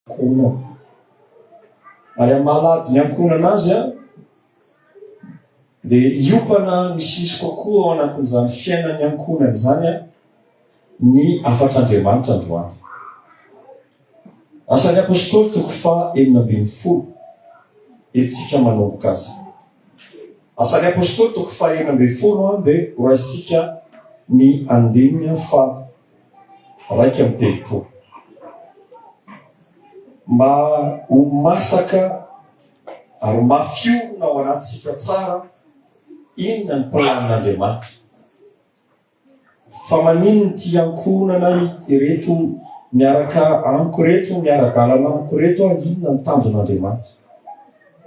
Ankohonana. Ary amin'ny maha lahady ny ankohonana azy, dia hiompana misimisy kokoa ao anatin'izany fiainan'ny ankohonana izany ny hafatr'Andriamanitra androany. Asan'ny Apostoly toko faha enina ambin'ny folo, etsika manomboka azy. Asan'ny Apostoly toko faha enina ambin'ny folo dia horaisintsika ny andininy faha iraika amby telopolo. Mba ho masaka ary mafy orina ao anatintsika tsara inona ny planin'Andriamanitra. Fa maninona ity ankohonana ireto miaraka amiko ireto, miara-dalana amiko ireto aho, inona ny tanjon'Andriamanitra.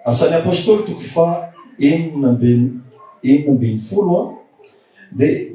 Asan'ny Apôstôly toko faha enina ambin'ny folo dia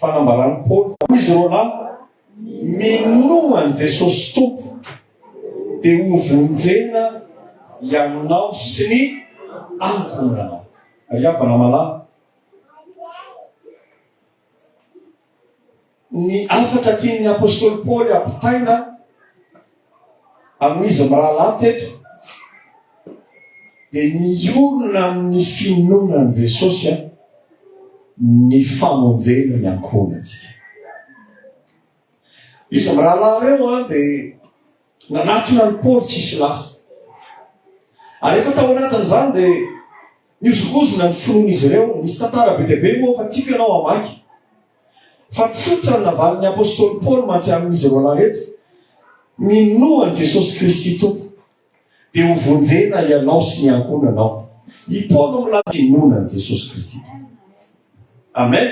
Fanambaran'i Paoly ho izy roalahy, Minoa an'i Jesosy Tompo, dia hovonjena ianao sy ny ankohonanao. Ry havana malala, Ny hafatra tian'ny apostoly Paoly hampitaina amin'izy mirahalahy teto dia miorina amin'ny finoana an'i Jesosy ny famonjena ny ankohonantsika. Izy mirahalahy ireo an dia nanatona ny Paoly tsy hisy lasa. Ary efa tao anatin'izany dia nihozongozona ny finoan'izy ireo. Misy tantara be dia be moa fa tiako ianao hamaky. Fa tsotra ny navalin'ny apostoly Paoly mantsy amin'izy roalahy reto, Minoa an'i Jesosy Kristy Tompo, dia hovonjena ianao sy ny ankohonanao. I Paoly no milaza finoana an'i Jesosy Kristy Tompo. Amen.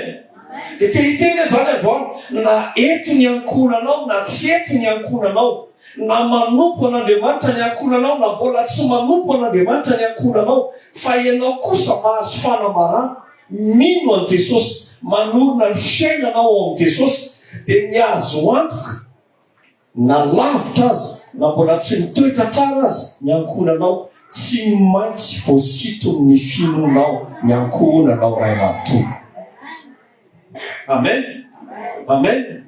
Dia te hiteny aho izany androany, na eto ny ankohonanao na tsy eto ny ankohonanao, na manompo an'Andriamanitra ny ankohonanao na mbola tsy manompo an'Andriamanitra ny ankohonanao, fa ianao kosa mahazo fanamarana Mino an'i Jesosy, manorina ny fiainanao ao amin'i Jesosy dia ny azo antoka na lavitra aza na mbola tsy mitoetra tsara aza ny ankohonanao tsy maintsy voasiton'ny finonao ny ankohonanao ray manontolo. Amen! Amen!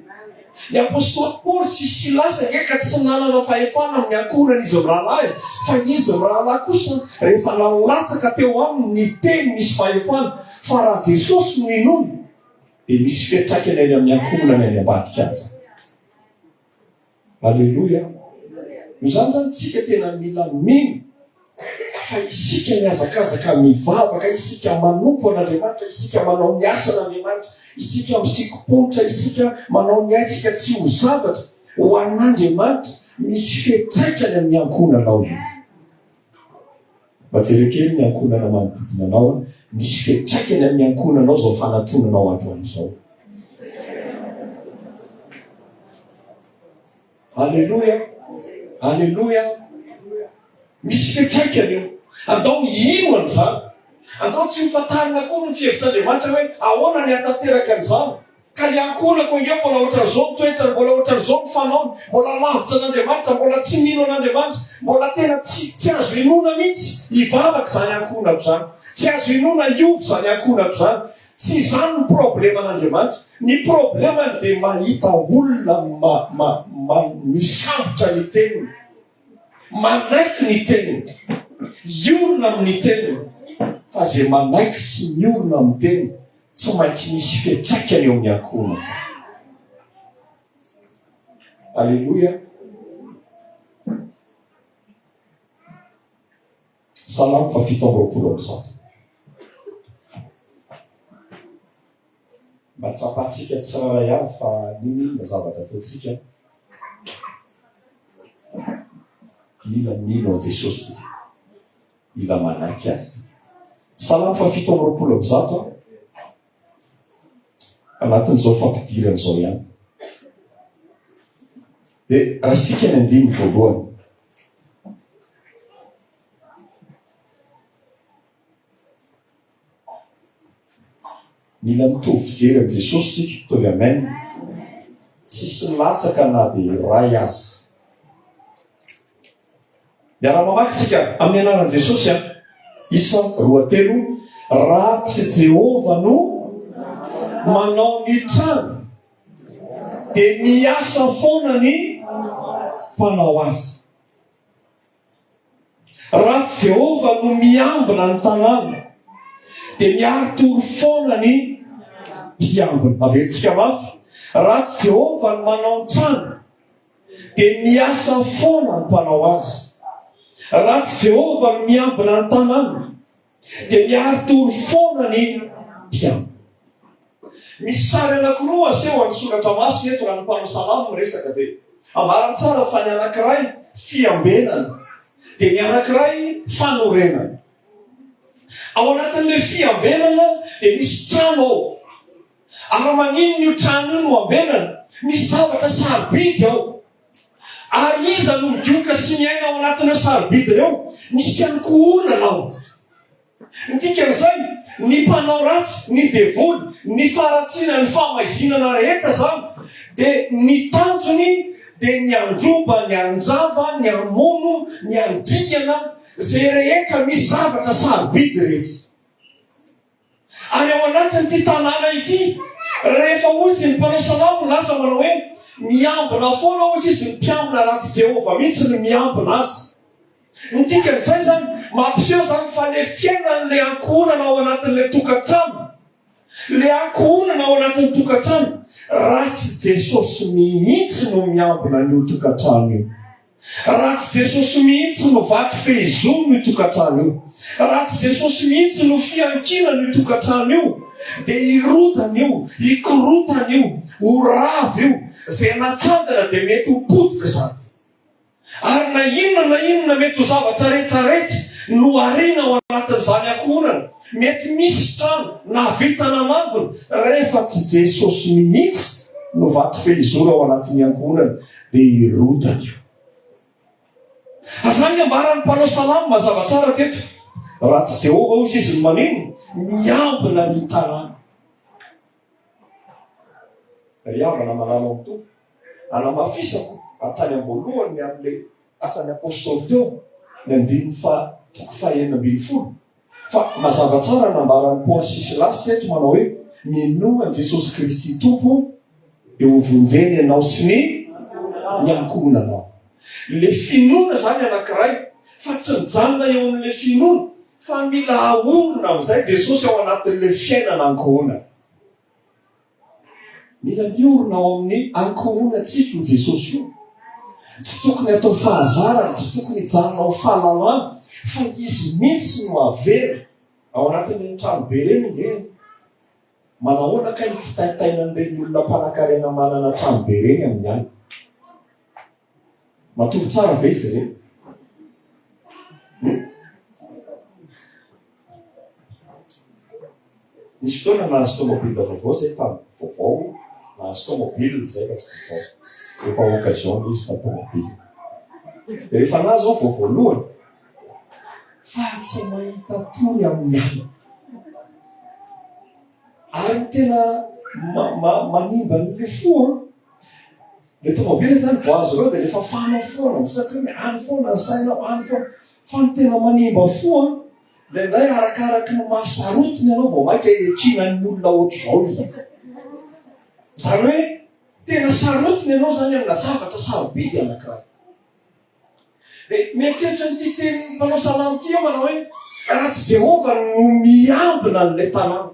Ny apostoly Paoly sy Silasy ange ka tsy nanana fahefana amin'ny ankohonan'izy mirahalahy, fa izy mirahalahy kosa rehefa nalatsaka teo aminy ny teny misy fahefana, fa raha Jesosy no inoana dia misy fiantraikany any amin'ny ankohonany any ambadika aza. Aleloia! Noho izany izany, isika tena mila mino Fa isika mihazakazaka mivavaka, isika manompo an'Andriamanitra, isika manao ny asan'Andriamanitra, isika misikim-ponotra, isika manao ny aintsika tsy ho zavatra ho an'Andriamanitra, misy fiantraikany amin'ny ankohonanao io. Mba jereo kely ny ankohonana manodidina anao, misy fiantraikany amin'ny ankohonanao izao fanatonanao androany izao. Aleloia, aleloia. Misy fiantraikany io. Andao hino an'izany. Andao tsy hofantarina akory ny fihevitr'Andriamanitra hoe ahoana ny hatanteraka an'izany. Ka ny ankohonako ange mbola ohatran'izao ny toetrany, mbola ohatran'izao ny fanaony, mbola lavitra an'Andriamanitra, mbola tsy mino an'Andriamanitra, mbola tena tsy tsy azo inoana mihitsy hivavaka izany ankohonako izany. Tsy azo inoana hiova izany ankohonako izany. Tsy izany ny probleman'Andriamanitra. Ny problemany dia mahita olona ma, ma, ma, misambotra ny teniny, manaiky ny teniny, hiorina amin'ny teniny. Fa izay manaiky sy miorina amin'ny teniny, tsy maintsy misy fiantraikany eo amin'ny ankohonany izany. Aleloia. Salamo fa fito amby roapolo amby zato. Mba tsapantsika tsirairay avy fa nino inona zavatra ataontsika. Mila mino an'i Jesosy. Mila manaiky azy. Salamo fa fito amby roapolo amby zato. Anatin'izao fampidirana izao ihany. Dia raha isika ny andininy voalohany. Mila mitovy fijery amin'i Jesosy isika, mitovy amen. Tsisy milatsaka na dia iray aza. Miara mamaky tsika amin'ny anaran'i Jesosy an. Isa roa telo, raha tsy Jehovah no manao ny trano dia miasa foana ny mpanao azy. Raha tsy Jehovah no miambina ny tanàna dia miari-tory foana ny mpiambina. Averintsika mafy, raha tsy Jehovah no manao ny trano dia miasa foana ny mpanao azy. Raha tsy Jehovah no miambina ny tanàna, dia miari-tory foana ny mpiambina. Misy sary anankiroa aseho amin'ny Soratra Masina eto raha ny mpanao salamo miresaka, dia ambara tsara fa ny anankiray fiambenana, dia ny anankiray fanorenana. Ao anatin'ilay fiambenana dia misy trano ao. Ary maninona io trano io no ambenana? Misy zavatra sarobidy ao. Ary iza no midioka sy miaina ao anatin'ireo sarobidy ireo? Misy ihany koa olana ao. Ny dikan'izay, ny mpanao ratsy, ny devoly, ny faharatsiana, ny fahamaizinana rehetra izany, dia ny tanjony dia ny handroba, ny hanjava, ny hamono, ny handingana, izay rehetra misy zavatra sarobidy rehetra. Ary ao anatin'ity tanàna ity, rehefa hoy izy ny mpanao salamo milaza manao hoe, Miambina foana hoy izy ny mpiambina raha tsy Jehovah mihitsy no miambina azy. Ny dikan'izay izany, mampiseho izany fa ilay fiainan'ilay ankohonana ao anatin'ilay tokantrano, ilay ankohonana ao anatin'ny tokantrano, raha tsy Jesosy mihitsy no miambina an'io tokantrano io. Raha tsy Jesosy mihitsy no vaky fehizoro io tokantrano io, raha tsy Jesosy mihitsy no fiankinana io tokantrano io, dia hirodana io, hikorontana io, ho rava io, izay natsangana dia mety ho potika izany. Ary na inona na inona mety ho zavatra rehetra rehetra no ariana ao anatin'izany ankohonana, mety misy trano na vintana mangona, rehefa tsy Jesosy mihitsy no vaky fehizoro ao anatin'ny ankohonana, Dia hirotsaka. Azany ny ambaran'ny mpanao salamo mazava tsara teto. Raha tsy Jehovah hoy izy no maneno, miambina ny tanàna. Ry havana malala ao Tompo, anamafisako fa tany am-boalohany amin'ilay asan'ny apostoly teo, ny andininy faha toko faha enina ambin'ny folo, Fa mazava tsara ny nambaran'i Paoly sy Silasy teto manao hoe, Minoa an'i Jesosy Kristy Tompo dia hovonjena ianao sy ny ny ankohonanao. Ilay finoana izany anankiray, fa tsy mijanona eo amin'ilay finoana, fa mila ahorona amin'izay Jesosy ao anatin'ilay fiainana ankohonana. Mila miorina ao amin'ny ankohonantsika io Jesosy io. Tsy tokony atao fahazarana, tsy tokony hijanona ho fahalalana, fa izy mihitsy no avela ao anatin'ny tranobe ireny nge. Manahoana kay ny fitaitainan'ireny olona mpanankarena manana tranobe ireny amin'ny alina? Matory tsara ve izy ireny? Hmm? Nisy fotoana nahazo tomobile vaovao izay tamin'ny vaovao, nahazo tomobile izay fa tsy vaovao. Efa occasion izy fa tomobile. Dia rehefa nahazo aho vao voalohany, fa tsy mahita tory amin'ny alina. Ary tena ma, ma, manimba ny fo, Le tomobile zany vao azo reo de le fafana foana misatriny any foana ny sainao any foana fa ny tena manimba fo a le ndray arakaraky ny maha sarotiny anao vao maika ekina ny olona otrzao le izy zany hoe tena sarotiny anao zany amina zavatra sarobidy anakira de mieritreritra ny titeny mpanao salamo ty eo manao hoe raha tsy jehovah no miambina an'le tanàna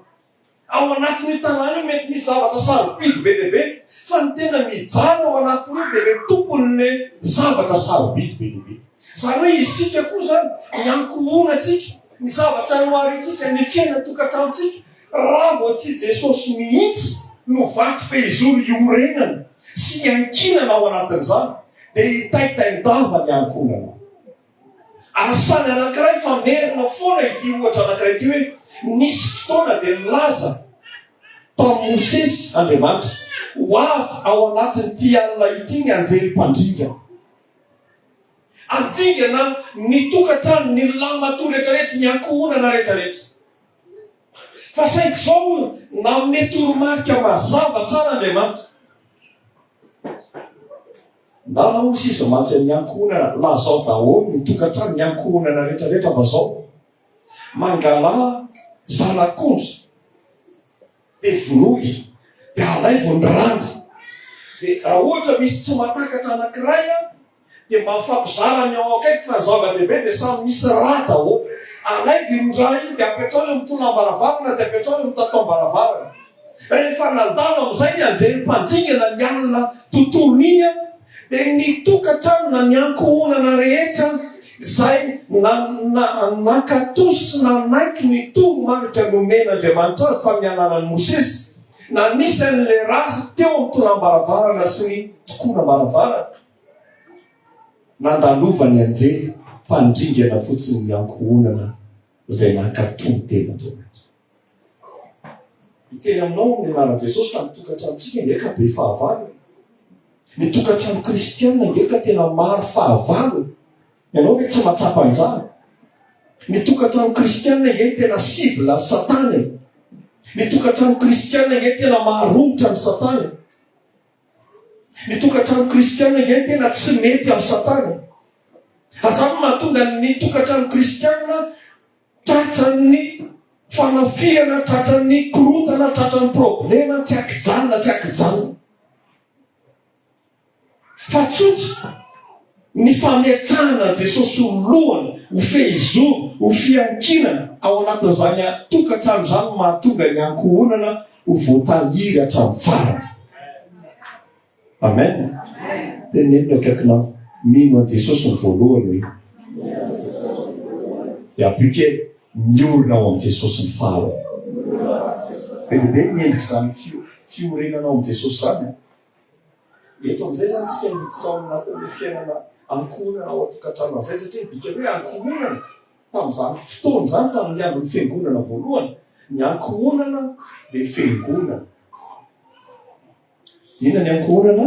Ao anatin'io tanàna io mety misy zavatra sarobidy be dia be, fa ny tena mijaly ao anatin'io dia ilay tompon'ilay zavatra sarobidy be dia be. Izany hoe isika koa izany, ny ankohonantsika, ny zavatra noharintsika, ny fiainan-tokantranontsika, raha vao tsy i Jesosy mihitsy no vato fehizoro iorenana sy iankinana ao anatin'izany, dia hitaitain-dava ny ankohonanao. Ary samy anankiray fa merina foana ity ohatra anankiray ity hoe nisy fotoana dia nilaza tamin'i Mosesy Andriamanitra, Ho avy ao anatin'ity alina ity ny anjely mpandringa. Ary dingana ny tokantrano, ny lahimatoa rehetrarehetra, ny ankohonana rehetrarehetra. Fa saingy izao hono, nanome toromarika mazava tsara Andriamanitra. Ndana hoy sisa mantsy amin'ny ankohonana lazao daholo ny tokantranon'ny ankohonana retraretra fa zao mangala zanak'ondry de vonoy de alaivo ny rany de raha ohatra misy tsy matakatra anankiray a de mba mifampizara ny ao akaiky fa ny zava-dehibe de samy misy ra daholo alaivo iny ra iny de apetrao eo amin'ny tolambaravarana de apetrao eo amin'ny tataom-baravarana Rehefa nandalo amin'izay ny anjely mpandringana ny alina tontolony iny, dia ny tokantrano na ny ankohonana rehetra izay nankato sy nanaiky ny toromarika nomen'Andriamanitra azy tamin'ny alalan'i Mosesy, na nisy an'ilay rà teo amin'ny tonàm-baravarana sy ny tokonam-baravarana, nandalovan'ny anjely mpandringana fotsiny ny ankohonana izay nankato ny tenan'Andriamanitra. Miteny aminao ny anaran'i Jesosy fa ny tokantranontsika ange ka be fahavalo e. Ny tokantrano kristiana ange ka tena maro fahavalo e. Ianao ve tsy mahatsapa an'izany? Ny tokantrano kristiana ange ny tena cible an'i Satana e. Ny tokantrano kristiana ange ny tena maharomotra an'i Satana. Ny tokantrano kristiana ange ny tena tsy mety amin'i Satana. Azany mahatonga ny tokantrano kristiana Tratran'ny fanafihana, tratran'ny korontana, tratran'ny problema tsy ankijanona, tsy ankijanona. Fa tsotra ny fametrahana an'i Jesosy ho lohany, ho fehizoro, ho fiankinana ao anatin'izany tokantrano izany no mahatonga ny ankohonana ho voatahiry hatramin'ny farany. Amen! Teneno ny akaikinao, mino an'i Jesosy ny voalohany hoe. Dia appliquer, miorina ao amin'i Jesosy ny faharoa. Be dia be ny endrik'izany fio, fiorenana ao amin'i Jesosy izany an. Eto amin'izay izany tsika hiditra ao anatin'ny fiainana ankohonana ao an-tokantrano amin'izay satria ny dikany hoe ankohonana tamin'izany fotoana izany tamin'ny andron'ny fiangonana voalohany, ny ankohonana dia fiangonana. Inona ny ankohonana?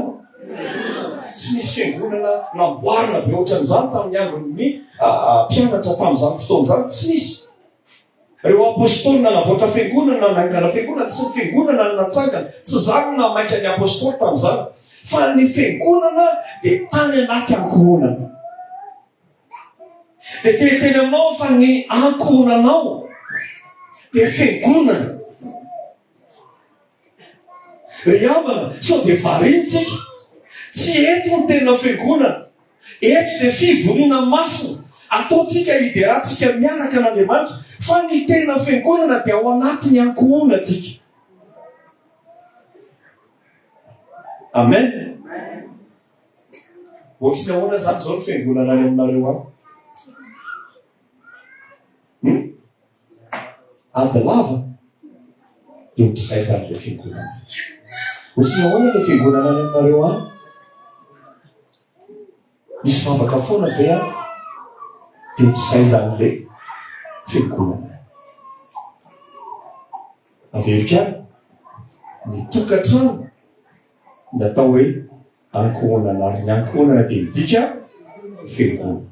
Tsy misy fiangonana namboarina be ohatran'izany tamin'ny andron'ny ah, ah, mpianatra tamin'izany fotoana izany. Tsy misy. Ireo apôstôly nanamboatra fiangonana, nanangana fiangonana, tsy ny fiangonana no natsangana. Tsy izany no nahamaika ny apôstôly tamin'izany. Fa ny fiangonana dia tany anaty ankohonana. Dia teny teny aminao fa ny ankohonanao dia fiangonana. Ry havana, sao dia variana isika? Tsy eto ny tena fiangonana. Eto dia fivoriana masina ataontsika hiderantsika miaraka an'Andriamanitra, fa ny tena fiangonana dia ao anatin'ny ankohonantsika. Amen. Ohatry ny ahoana izany izao ny fiangonana any aminareo any? Ady lava dia ho try aiza ilay fiangonana? Ho try ahoana ilay fiangonana any aminareo any? Misy vavaka foana ve any? Dia ho try aiza ilay fiangonana? Averiko any, ny tokantrano ny atao hoe ankohonana ary ny ankohonana dia midika fiangonana.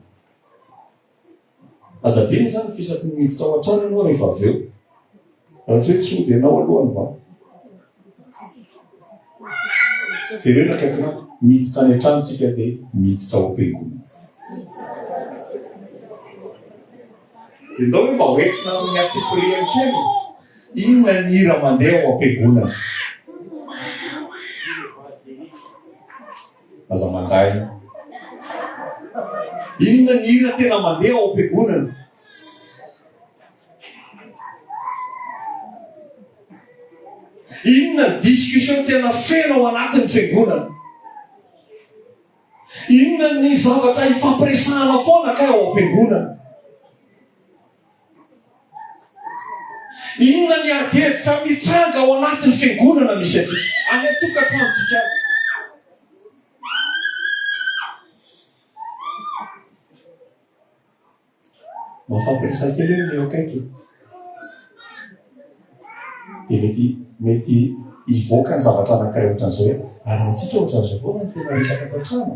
Aza adino izany fa isaky ny miditra ao an-trano ianao rehefa avy eo. Raha tsy hoe tsy hody ianao aloha ny bandy. Jerena akaiky na miditra any an-trano tsika dia miditra ao am-piangonana. Dia ndao hoe mba hoentina amin'ny antsipirihany kely. Inona ny hira mandeha ao am-piangonana? Aza mandahy. Inona ny hira tena mandeha ao am-piangonana? Inona ny discussion tena feno ao anatin'ny fiangonana? Inona ny zavatra ifampiresahana foana kay ao am-piangonana? Inona ny ady hevitra mitranga ao anatin'ny fiangonana misy antsika, any an-tokantranontsika any? Mafampiresa kely ny eo akaiky. Dia mety mety hivoaka ny zavatra anankiray ohatran'izao hoe ary antsika ohatran'izao foana ny tena resaka tao an-trano.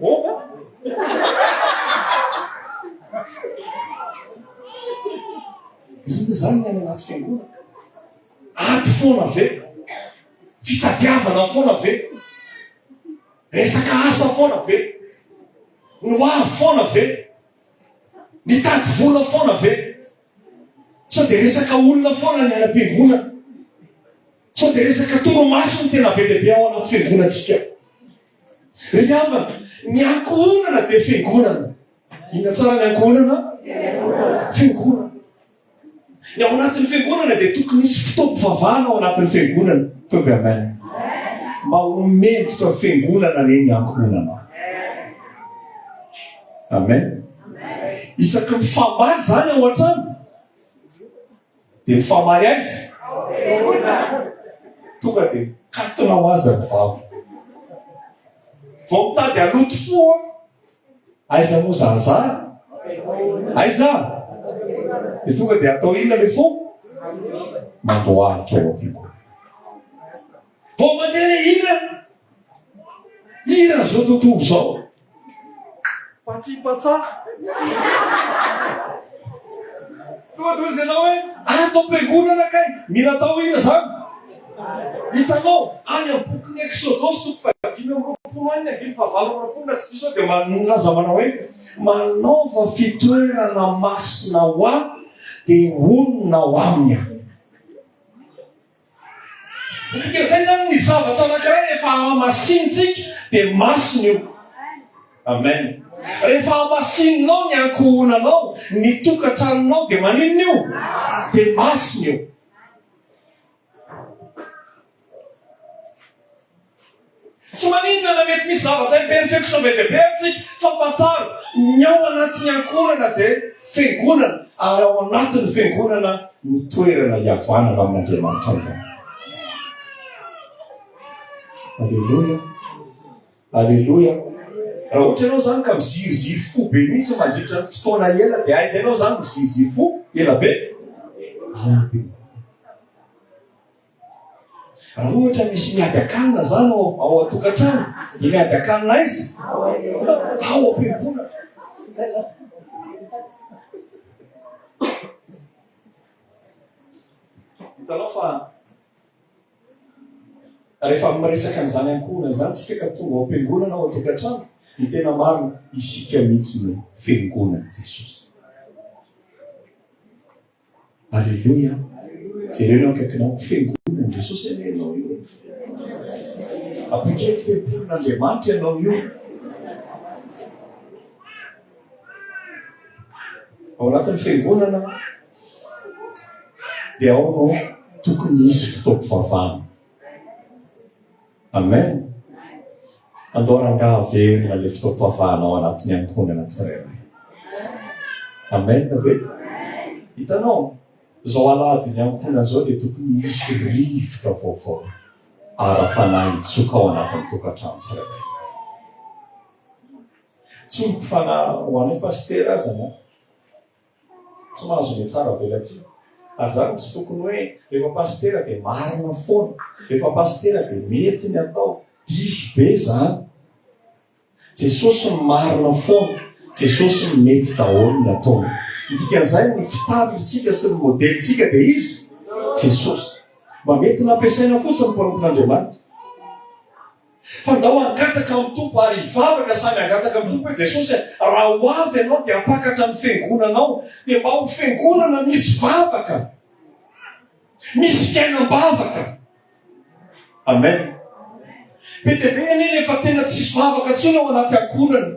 Boba? Inona izany ny any anaty fiangonana? Ady foana ve? Fitadiavana foana ve? Resaka asa foana ve? Ny hoavy foana ve? Nitady vola foana ve? Sao dia resaka olona foana ny any am-piangonana? Sao dia resaka torimaso no tena be dia be ao anaty fiangonantsika? Ry havana, ny ankohonana dia fiangonana. Inona tsara ny ankohonana? Fiangonana. Ny ao anatin'ny fiangonana dia tokony hisy fotoam-pivavahana ao anatin'ny fiangonana. Tonga amen. Mba ho mendrika fiangonana anie ny ankohonana. Amen. Isaky ny famaly izany ao an-trano dia mifamaly aiza? Tonga dia mikatona ho azy ny vava. Vao mitady haloto fo an! Aiza moa zahazara? Aiza? Dia tonga dia atao inona ilay fo? Mandohalika ao am-piko. Vao mandeha le hira. Hira zao tontolo zao. Patsi patsa. Soa dozy ianao hoe ato am-piangonana kay mila atao hira zany. Hitanao any amin'ny bokin'ny Eksodosy toko fahadimy amby roapolo any ny andininy fahavalo amby roapolo raha tsy diso aho dia milaza manao hoe manaova fitoerana masina ho ahy dia honina ao aminy aho. Dika zay zany ny zavatra anankiray rehefa hamasinintsika dia masina io. Amen. Rehefa hamasininao ny ankohonanao, ny tokantranonao dia maninona io? Dia masina io. Tsy maninona na mety misy zavatra imperfection be dia be amintsika, fa fantaro ny ao anatin'ny ankohonana dia fiangonana, ary ao anatin'ny fiangonana no toerana hihavanana amin'Andriamanitra Ray. Aleloia! Aleloia! Raha ohatra ianao izany ka miziriziry fo be mihitsy mandritra ny fotoana ela, dia aiza ianao izany miziriziry fo ela be? Aleloia! Raha ohatra misy miadakanina zany ao ao an-tokantrano, dia miadakanina aiza? Ao am-piangonana. Hitanao fa rehefa miresaka an'izany ankohonana izany tsika ka tonga ao am-piangonana ao an-tokantrano, dia tena maro isika mihitsy no fiangonan'i Jesosy. Aleloia jereo eo akaikinao ko fiangonana ny Jesosy anie ianao io e appliquer tempolin' Andriamanitra ianao io ao anatin'ny fiangonana dia ao no tokony hisy fitaom-pivavahana Amen! Andao rangaha haverina ilay fotoam-pivavahana ao anatin'ny ankohonana tsirairay. Amen ve? Hitanao, izao alahadin'ny ankohonana izao dia tokony hisy rivotra vaovao ara-panahy hitsoka ao anatin'ny tokantrano tsirairay. Tsy ho fanahy ho anao pasitera aza na Tsy mahazo ny tsara velatsihy. Ary zany tsy tokony hoe rehefa pasitera dia marina foana, rehefa pasitera dia mety ny atao. Diso be zany. Jesosy no marina foana, Jesosy no mety daholo ny ataony. Ny dikan'izay ny fitarihintsika sy ny modelintsika dia izy Jesosy. Mba mety nampiasaina fotsiny ny mpanompon'Andriamanitra. Fa ndao hangataka amin'ny Tompo ary hivavaka samy hangataka amin'ny Tompo hoe, Jesosy a, raha ho avy Ianao dia hampakatra ny fiangonanao, dia mba ho fiangonana misy vavaka, misy fiainam-bavaka. Amen. Be dia be anie ilay efa tena tsisy vavaka intsony ao anaty ankohonana.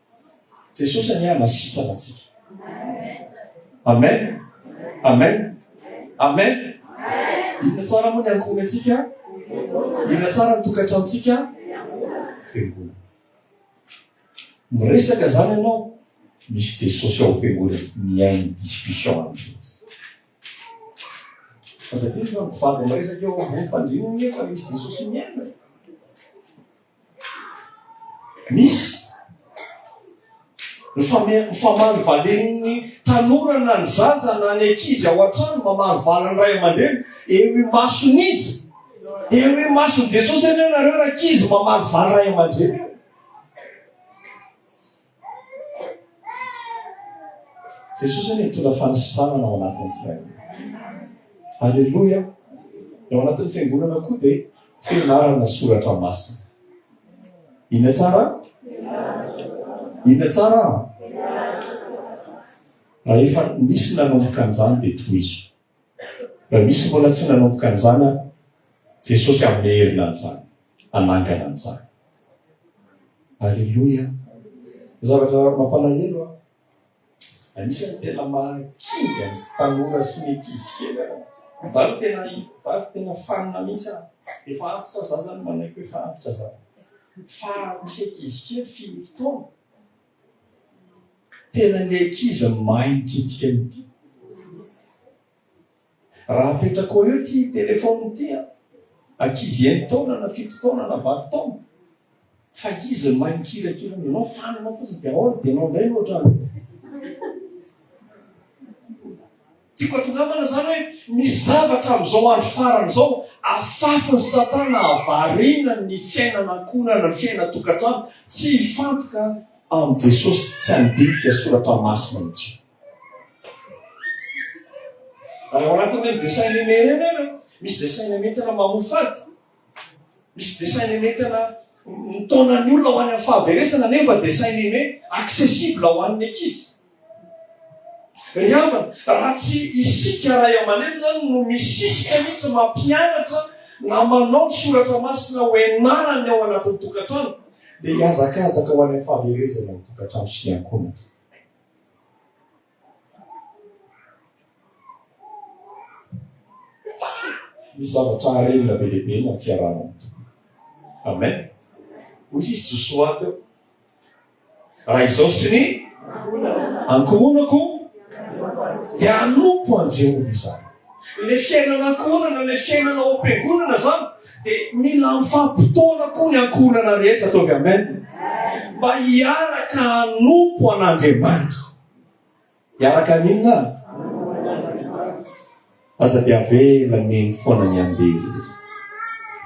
Jesosy anie hanasitrana antsika. Amen. Amen. Amen. Inona tsara moa ny ankohonantsika? Inona tsara ny tokantrantsika? Fiangonana. Miresaka zany ianao, misy Jesosy ao fiangonana, mihaino discussion aminy. Aza teny fa mivady miresaka eo ambony fandriana anie fa misy Jesosy mihaino. Misy mifamaly valen'ny tanora na ny zaza na ny ankizy ao an-trano mamaly valin'ny ray aman-dreny eo imason'izy eo imason'i Jesosy anie nareo rankizy mamaly valy ray aman-dreny Jesosy anie nitondra fanasitranana ao anatin'ny tsirairay. Aleloia! Ny ao anatin'ny fiangonana koa dia fianarana soratra masina. Inona tsara? Inona tsara? Rahefa nisy nanomboka an'izany dia tohizo. Raha misy mbola tsy nanomboka an'izany ary, Jesosy hanome heriny an'izany, hanangana an'izany. Aleloia! Zavatra mampalahelo an! Anisan'ny tena mahakivy ny tanora sy ny ankizy kely an! Za aloha tena, za aloha tena fanina mihitsy an! Efa antitra za zany manaiky hoe efa antitra za. Fa misy ankizy kely fino fotoana. Tena le ankizy mahay mikitika mity. Raha apetrako eo ty telephone ty an, ankizy enina taona na fito taona na valo taona, fa izy no mahay mikirakira an'io, enao fanina fotsiny de aona de enao ndray no ohatrany. Tiako atongavana izany hoe misy zavatra amin'izao andro farany izao afafin'i Satana hahavariana ny fiainana ankohonana, ny fiainana an-tokantrano, tsy hifantoka amin'i Jesosy, tsy handinika soratra masina intsony. Raha ao anatin'ireny dessin animé ireny ary misy dessin animé tena mamoa fady, Misy dessin animé tena mitaona ny olona ho any amin'ny fahaverezana nefa dessin animé accessible ho an'ny ankizy. Ry havana, raha tsy isika ray aman-dreny izany no misisika mihitsy mampianatra na manao ny soratra masina ho ianarany ao anatin'ny tokantrano, dia hihazakazaka ho any amin'ny fahaverezana ny tokantrano sy ny ankohonany. Misy zavatra harena be dia be na fiarahana amin'ny Tompo. Amen. Hoy izy Josoa teo. Raha izao sy ny ankohonako dia hanompo an'i Jehovah izany. Ilay fiainana ankohonana, ilay fiainana ao am-piangonana izany, dia mila mifampi-potoana koa ny ankohonana rehetra, ataovy amen, mba hiaraka hanompo an'Andriamanitra. Hiaraka haninona? Aza dia avela neny foana ny andery.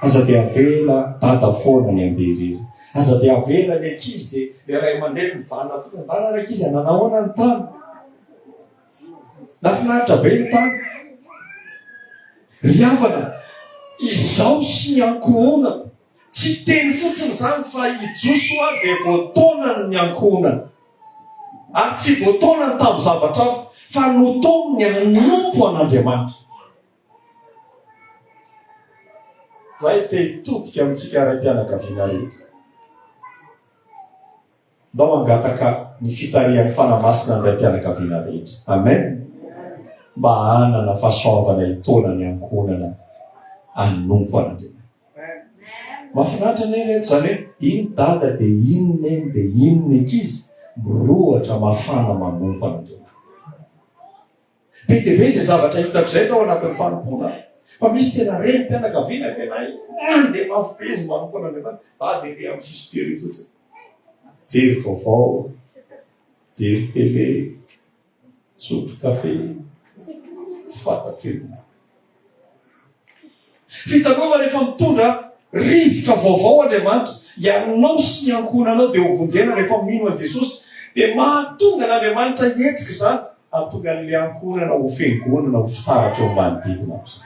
Aza dia avela dada foana ny andery. Aza dia avela ny ankizy dia ilay ray aman-dreny mijanona fotsiny. Mba ny ankizy, nanahona ny tany. Nafinaritra be ny tany. Ry havana, izaho sy ny ankohonako, tsy teny fotsiny izany fa i Josoa dia voataonany ny ankohonany. Ary tsy voataonany tamin'ny zavatra hafa, fa notaoniny hanompo an'Andriamanitra. Izahay te hitodika amintsika raim-pianakaviana rehetra. Ndao hangataka ny fitarihan'ny Fanahy Masina ny raim-pianakaviana rehetra. Amen. Mba hanana fahasoavana hitaona ny ankohonana hanompo an'Andriamanitra. Mahafinaritra anie reto izany hoe iny dada dia iny neny dia iny ny ankizy mirohotra mafana manompo an'Andriamanitra. Be dia be izay zavatra hitako izay tao anatin'ny fanompoana fa misy tena renim-pianakaviana tena any dia mafy be izy manompo an'Andriamanitra fa dia be amin'ny fisikely fotsiny. Jery vaovao, jery tele, sotro kafe, tsy fantatra inona. Vitanao va rehefa mitondra rivotra vaovao Andriamanitra? Ianao sy ny ankohonanao dia hovonjena rehefa mino an'i Jesosy. Dia mahatonga an'Andriamanitra hihetsika izany, hahatonga an'ilay ankohonana ho fiangonana ho fitaratra eo manodidina azy.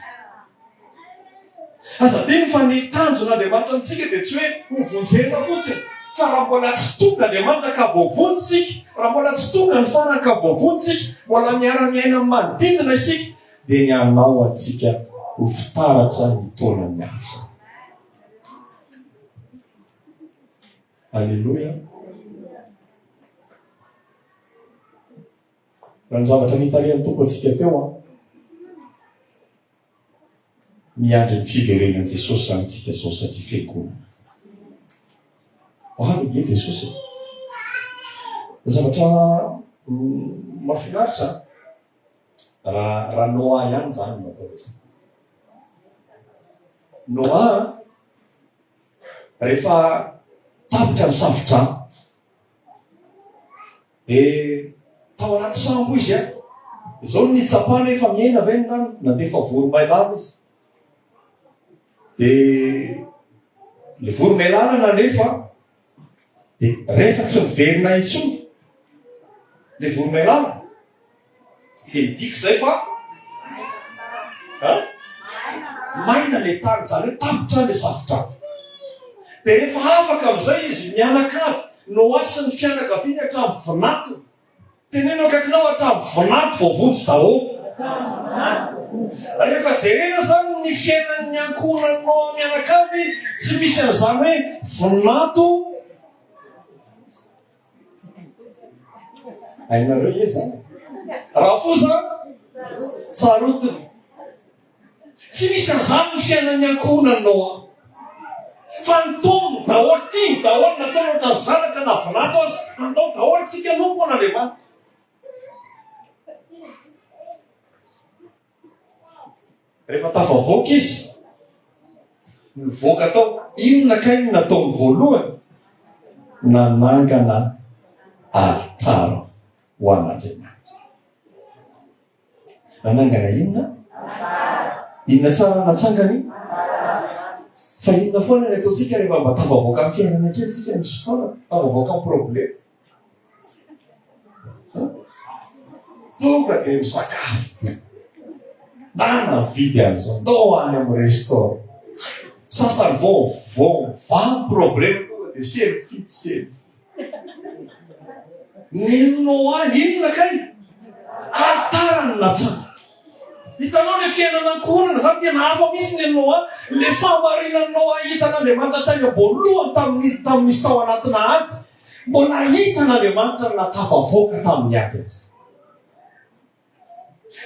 Aza adino fa ny tanjon'Andriamanitra amintsika dia tsy hoe hovonjena fotsiny, fa raha mbola tsy tonga Andriamanitra ka voavonjy isika, raha mbola tsy tonga ny farany ka voavonjy isika, mbola miara-miaina amin'ny manodidina isika, dia ny hanao antsika ho fitaratra ny taonany hafa. Aleloia. Raha ny zavatra nitarihan'ny tompo antsika teo an. Miandry ny fiverenan'i Jesosy zany tsika zao satria fiangonana. Ho avy nge Jesosy. Zavatra mm, mafinaritra. Raha raha Noah ihany izany no atao hoe. Noah rehefa tapitra ny safodrano dia tao anaty sambo izy a izao ny tsapana efa miaina ve ny rano nandefa voromailala izy dia ny voromailala nanefa Dia rehefa tsy miverina intsony le voromailala, dia midika izay fa an, maina le tany, izany hoe tapitra le safotra. Dia rehefa afaka amin'izay izy, mianakavy, noasin'ny fianakaviany hatramin'ny vinantony. Teneno akaikinao atabo vinanto vao vonjy daholo. Rehefa jerena zany ny fiainan'ny ankohonanao mianakavy tsy misy an'izany hoe vinanto hainareo ve zany? Rafosa tsarotina. Tsy misy an'izany ny fiainan'ny ankohonan'i Noa. Fa nitony daholo, tiany daholo, nataony ohatran'ny zanaka na vinato aza. Handao daholo tsika aloha moa an'Andriamanitra. Rehefa tafavoaka izy, nivoaka tao, inona kay ny nataony voalohany? Nanangana alitara ho an'Andriamanitra. Nanangana inona? Inona tsara no natsangany? Fa inona foana ny ataontsika rehefa mba tafavoaka amin'ny fiainana kely tsika misy fotoana, tafavoaka amin'ny problema. Tonga dia misakafo. Na navidy an'izao, ndao any amin'ny restaurant. Sasany vao vao vaha ny problema tonga dia selfie, selfie. Nino ahy inona kay? Ary tara ny latsaka. Hitanao le fiainana ankohonana zany tena hafa misy ny Noa, le fahamarinan'i Noa hitan'Andriamanitra tainga voalohany tamin'ny tamin'ny misy tao anatina ady, mbola hitan'Andriamanitra na tafavoaka tamin'ny ady aza.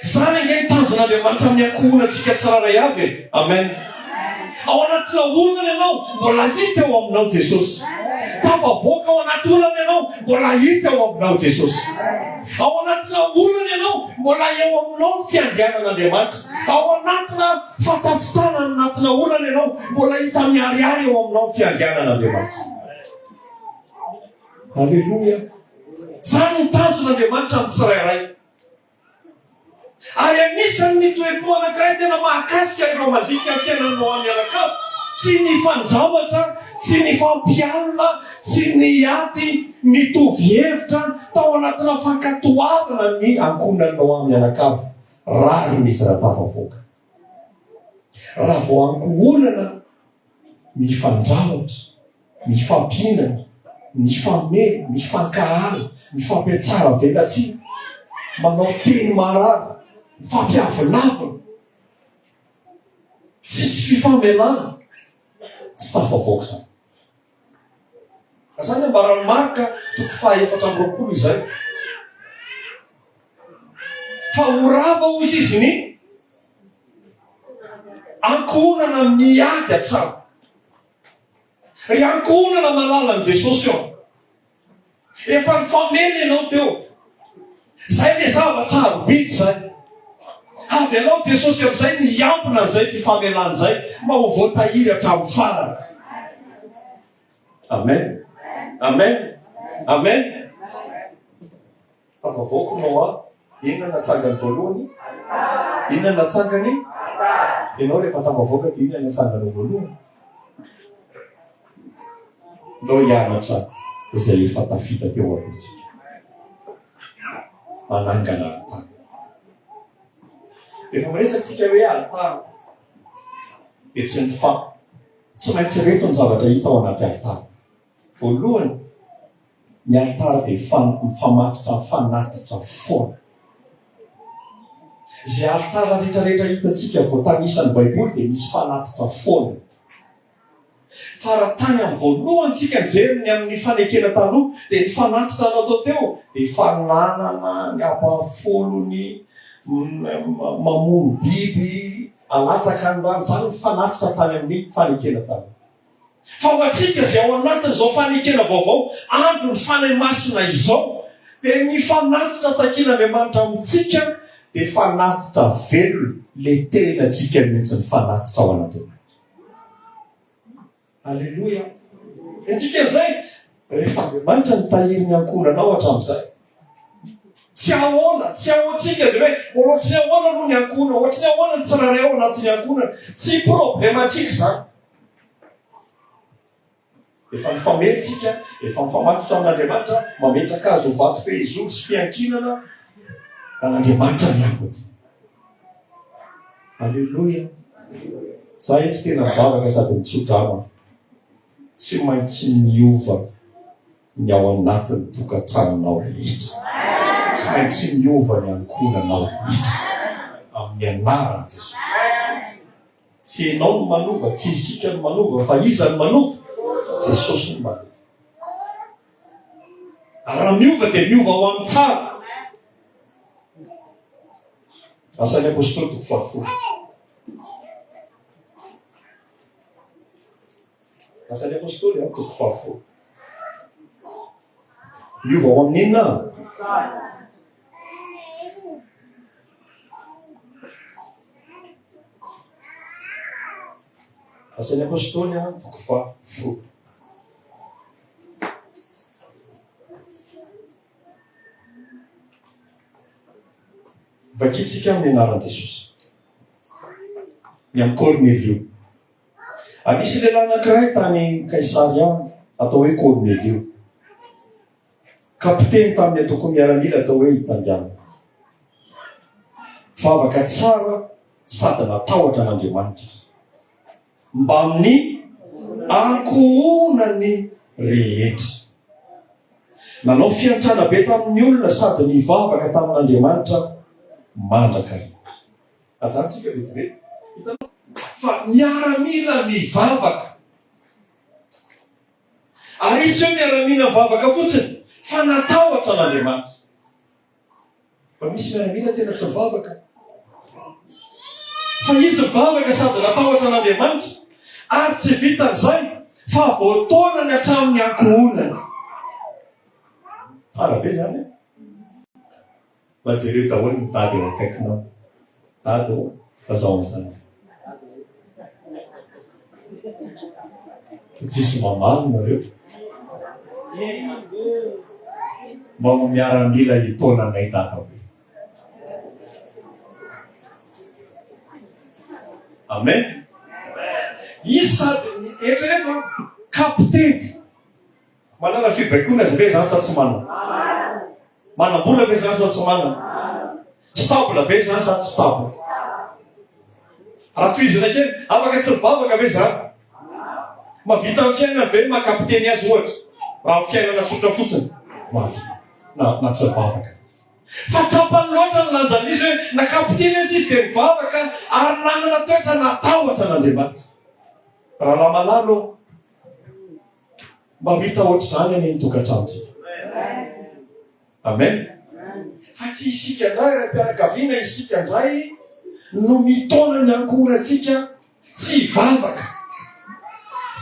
Izany ange ny tanjon'Andriamanitra amin'ny ankohonantsika tsirairay avy e. Amen. Ao anaty laonana ianao, mbola hita eo aminao Jesosy. Tafavoaka ao anaty olana ianao, mbola hita eo aminao Jesosy. Ao anaty laonana ianao, mbola eo aminao ny fiandrianan'Andriamanitra. Ao anatina fatafitana any anatina olana ianao, mbola hita miharihary eo aminao ny fiandrianan'Andriamanitra. Aleloia! Izany ny tanjon'Andriamanitra amin'ny tsirairay. Ary anisan' ny toe-po anankiray tena mahakasika ireo mandinika ny fiainan'ny Noa mianakavy, tsy ny fandraotra, tsy ny fampialona, tsy ny ady mitovy hevitra tao anatina fankatoavana ny ankohonan'i Noa mianakavy, rariny izy raha tafavoaka. Raha vao ankohonana, mifandrafitra, mifampihinana, mifameno, mifankahala, mifampiatsara velatsihy, manao teny marary, mifampiavilavina, tsisy fifamelana, tsy tafavoaka izany. Izany no ambaran'i Marka, toko fahaefatra amby roapolo izay. Fa ho rava hozy izy ny ankohonana miady an-trano. Ry ankohonana malala an'i Jesosy eo. Efa nifameno ianao teo. Izay ilay zava-tsarobidy izay. Avelao Jesosy amin'izay ny hiambina an'izay fifamelana izay mba ho voatahiry hatramin'ny farany. Amen. Amen. Amen. Tafavoaka Noa, inona no natsangany voalohany? Inona no natsangany? Ianao rehefa tafavoaka dia inona no natsanganao voalohany? Ndao hianatra izay efa tafita teo alohantsika. Manangana alitara. Rehefa miresatsika hoe alitara, dia tsy ny fa. Tsy maintsy reto ny zavatra hita ao anaty alitara. Voalohany, ny alitara dia fanoko mifamatotra mifanatitra foana. Izay alitara rehetrarehetra hitantsika voatanisa ny Baiboly dia misy fanatitra foana. Fa raha tany amin'ny voalohany tsika nijery ny amin'ny fanekena taloha, dia ny fanatitra natao teo dia fananana ny abafolony mamono biby alatsaka ny rano. Izany ny fanatitra tany amin'ny fanekena taloha. Fa ho antsika izay ao anatin'izao fanekena vaovao andron'ny Fanahy Masina izao, dia ny fanatitra takin'Andriamanitra amintsika dia fanatitra velona, ilay tenantsika mihitsy mifanatitra ao anatinatsika. Aleloia! Dia dikan'izay, rehefa Andriamanitra nitahiry ny ankohonanao hatramin'izay, tsy ahoana, tsy ahoantsika izay hoe ohatry ny ahoana aloha ny ankohonana, ohatry ny ahoana ny tsirairay ao anatin'ny ankohonana, tsy problème antsika izany. Efa mifamely isika, efa mifamatotra amin'Andriamanitra, mametraka Azy ho vato fehizoro sy fiankinana an'Andriamanitra ny ambiny. Aleloia! Za eto tena vavaka sady mitsodrama. Tsy maintsy miova ny ao anatin'ny tokantranonao rehetra. Tsy maintsy miova ny ankohonanao rehetra. Amin'ny anaran'i Jesosy. Tsy enao no manova, tsy isika no manova, fa iza no manova? Jesosy no manova. Ary raha miova dia miova ho amin'ny tsara. Asan'ny apôstôly toko fahafolo. Asan'ny Apostoly, an, toko fahavalo. Miova ho amin'ny inona? Asan'ny Apostoly, an, toko fahavalo. Vakitsika amin'ny anaran'i Jesosy. Ny an'i Kornelio. Nisy lehilahy anankiray tany Kaisaria, atao hoe Kornelio. Kapiteny tamin'ny antoko miaramila atao hoe Italiana. Vavaka tsara sady natahotra an'Andriamanitra izy. Mbamin'ny ankohonany rehetra. Nanao fiantrana be tamin'ny olona sady nivavaka tamin'Andriamanitra mandraka rehetra. Ajantsika vetivety. Hitanao? Fa miaramila mivavaka. Ary izy tsy hoe miaramila mivavaka fotsiny, fa natahotra an'Andriamanitra. Fa misy miaramila tena tsy mivavaka. Fa izy mivavaka sady natahotra an'Andriamanitra. Ary tsy vitan'izay, fa voataona ny hatramin'ny ankohonany. Tsara be zany e. Mba jereo daholo ny tady eo akaikinao. Tady ô, fa zao mazava. Fa tsisy mamaly nareo. Mba mo miaramila hitaona anay dada hoe. Amen. Izy sady, eritrereto an, kapiteny. Manana fibaikoana ve izany sa tsy manana? Manam-bola ve izany sa tsy manana? Stable ve izany sa tsy stable? Raha tohizina kely, afaka tsy mivavaka ve izany? Mavita ny fiainana ve makapiteny azy ohatra? Raha ny fiainana tsotra fotsiny, mavita na, na tsy mivavaka. Fa tsapany loatra ny lanjan'izy hoe na kapiteny aza izy dia mivavaka ary nanana toetra natahotra an'Andriamanitra. Rahalahy malalo ô! Mba ho hita ohatr'izany anie ny tokantranontsika. Amen. Fa tsy isika indray raim-pianakaviana, isika indray no mitaona ny ankohonantsika tsy hivavaka,